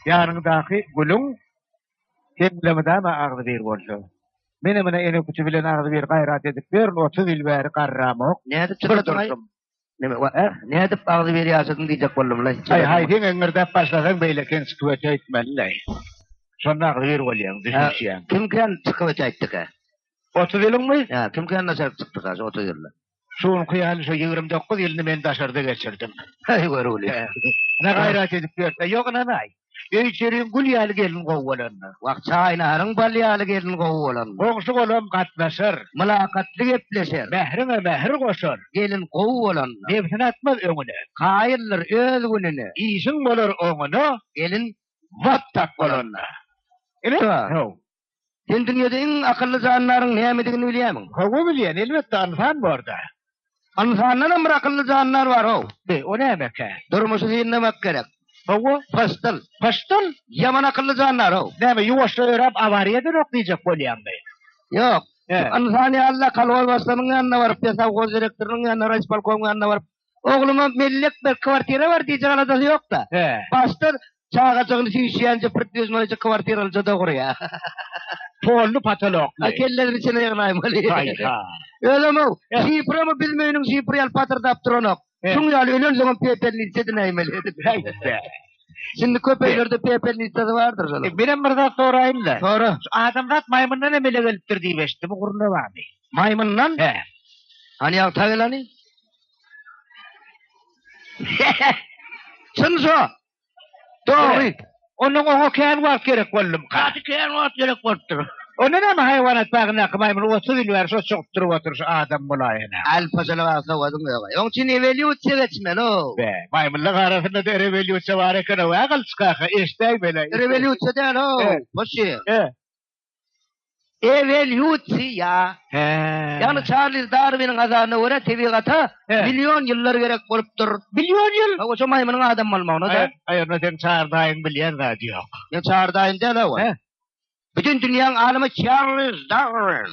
Ýanyňdaky gülüň hemlemidama agzy bir bolsa. Mene mene ene küçi bilen agzy bir gaýrat edip ber, 30 ýyl bäri garramok. Nädip çykardyň? Neme, wa, eh, nädip agzy bir ýaşadyň diýjek boldum la. Aý, haý, sen eňirdäp başlasaň beýle ken çykyp ötmeli la. Şonda agzy bir bolýaň, düşünişýäň. Kim ken çykyp ötdikä? 30 ýylyňmy? Ýa, kim ken naçar çykdyka şu 30 ýylda? Şu günki ýaly şu ýigrimi dokuz ýylyny men daşarda geçirdim. Heý, görgüli. Ene gaýrat edip ýörse, ýok ynanaý. Öý-içeriň gül ýaly gelin gowy bolanda. Wah, çaýnaryň bal ýaly gelin gowy bolanda. Goňşy-golam gatnaşar. Mylakatly gepleşer. Mähriňe mähir goşar. Gelin gowy bolanda. Nebsini atmaz öňüne. Kaýyldyr öz gününe. Işiň bolar oňuna. Gelin wap-tap bolanda. Ine, ho. Sen dünýede iň akylly jandaryň nämedigini bilýärmiň? Hawa, bilýän. Elbetde, ynsan bor-da. Ynsandanam bir akylly jandar bar-ow. Be, o nämekä? Durmuşy synlamak gerek. Hawa. Pyşdyl. Pyşdyl? Ýaman akylly jandar-ow. Näme, ýuwaşja ýöräp, awariýa edenok diýjek bolýaňmy? Ýok. Ynsan ýaly-da, kolhozbaşlygynyň ýanyna baryp, pesowhoz direktorynyň ýanyna, raýispolkomyň ýanyna baryp, Ogluma mellek bir kwartira bar diýjek aladasy ýok-da. Başdan çagajygyny süýşýänje bir düzmeleje kwartiralyja-da gurýar. Polly patolokly. A kellesini içine ýygnaýmaly. Haý-ha. Özem-ow, şiframy biziň öýüniň şifry ýaly patyrdap duranok. Şuň ýaly ölensoňam pepelnitsa edinäýmeli. Häý-de. Şindi köp öýlerde pepelnitsasy bardyr şol. Menem bir zat soraýyn-da. Sora. Şu adamzat maýmyndan emele gelipdir diýip eşitdim, bu gürrüň näme? Maýmyndan? Hany ýagtyrak elany? Çyn şo. Dogry. Ondan oňa kän wagt gerek boldum. Gaty kän wagt gerek bolupdyr. Onda näme haýwanat bagyndaky maýmyn otuz ýyl bäri şo çogup durup otyr şu adam bolaýana. Al pajala bar sowadyň ýoga. Oň üçin ewelýusiýa geçmeli-ow. Be, maýmynlaň arasynda-da erewelýusiýa bar eken-ow-ä gylyç kaka, eşdäý bela. Erewelýusiýa däl-ow, hoşy. He. Ewelýusiýa. He. Ýagny Çarlz Darwiniň azaryna görä tebigata million ýyllar gerek bolupdyr. Million ýyl? Hawa şo maýmynyň adam bolmagyna-da. Aý onda seň Çardaýyň bilýän zady ýok. Meň Çardaýym däl-ow ol. Bütin dünýäň alymy Çarlz Darwin.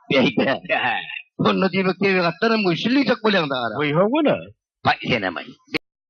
Onda diýmek tebigatdanam güýçli diýjek bolýaňda gara. Goý howwala. Baý senem-aý.